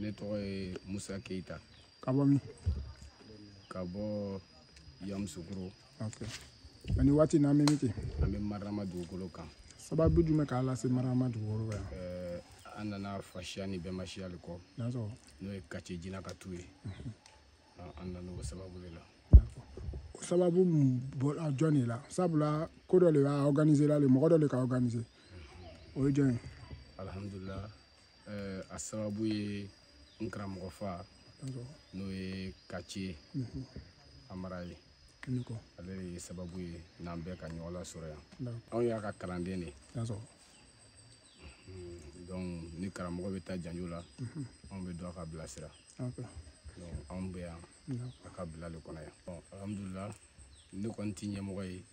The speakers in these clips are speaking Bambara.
ne tɔgɔ ye musa keyita ka bɔ min ka bɔ yamusukuro okay. ani waati n'an bɛ min kɛ an bɛ marama dugukolo kan sababu jumɛn k'a lase marama dugukolo kan eh, an nana fasiya ni bɛnbasiya de kɔ n'o ye kace jina ka tu ye mhm. ah, an nana o sababu de la o sababu bɔra jɔn de la sabula ko dɔ de k'a organisé la le mɔgɔ dɔ de k'a organisé mhm. o ye jɔn ye alihamudulila eh, a sababu ye n karamɔgɔ fa n'o ye kace mhm. amara ye ale de ye sababu ye n'an bɛɛ ka ɲɔgɔn lasɔrɔ yan anw y'a ka kalanden de mhm. donc ni karamɔgɔ bɛ taa janjo la mhm. anw bɛ to k'a bilasira anw bɛ yan a ka bila de kɔnɔ yan alhamdulila ne kɔni tɛ ɲɛmɔgɔ ye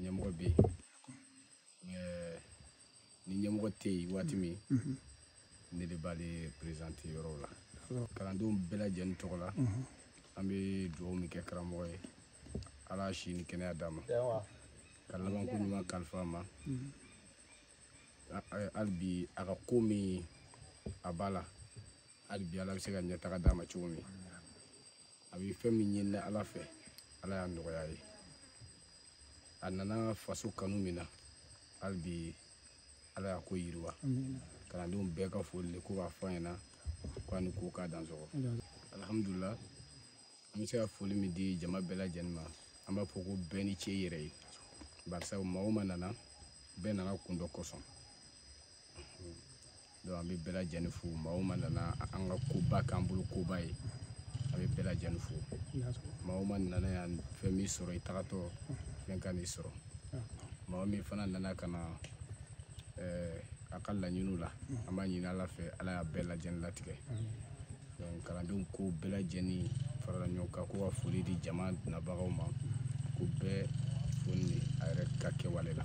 ɲɛmɔgɔ bɛ yen eh, ni ɲɛmɔgɔ tɛ yen waati min mhm. ne de b'ale présenter yɔrɔw la kalandenw bɛɛ lajɛlen tɔgɔ la mhm. an bɛ dugawu min kɛ karamɔgɔ ye ala si ni kɛnɛya d'a ma ka labanko ɲuman kalifa a ma mhm. hali bi a ka ko min a b'a la hali bi ala bɛ se ka ɲɛtaga d'a ma cogo min a bɛ fɛn min ɲini ala fɛ ala y'a nɔgɔya a ye a nana faso kanu min na hali bi ala y'a ko yiriwa kalandenw bɛɛ ka foli de ko k'a fɔ a ɲɛna ko a ni ko k'a dansɔgɔ alihamudulila an bɛ se ka foli min di jama bɛɛ lajɛlen ma an b'a fɔ ko bɛɛ ni ce i yɛrɛ ye barisa maa o maa nana bɛɛ nana kun dɔ kosɔn donc an bɛ bɛɛ lajɛlen fo maa o maa nana an ka koba k'an bolo koba ye an bɛ bɛɛ lajɛlen fo maa o maa nana yan fɛn m'i sɔrɔ i tagatɔ fɛn kan'i sɔrɔ maa min fana nana ka na eh, a ka laɲiniw la an b'a ɲini ala fɛ ala y'a bɛɛ lajɛlen latigɛ donc kalandenw ko bɛɛ lajɛlen farala ɲɔgɔn kan ko ka foli di jama nabagaw ma ko bɛɛ fo ni a yɛrɛ ka kɛwale la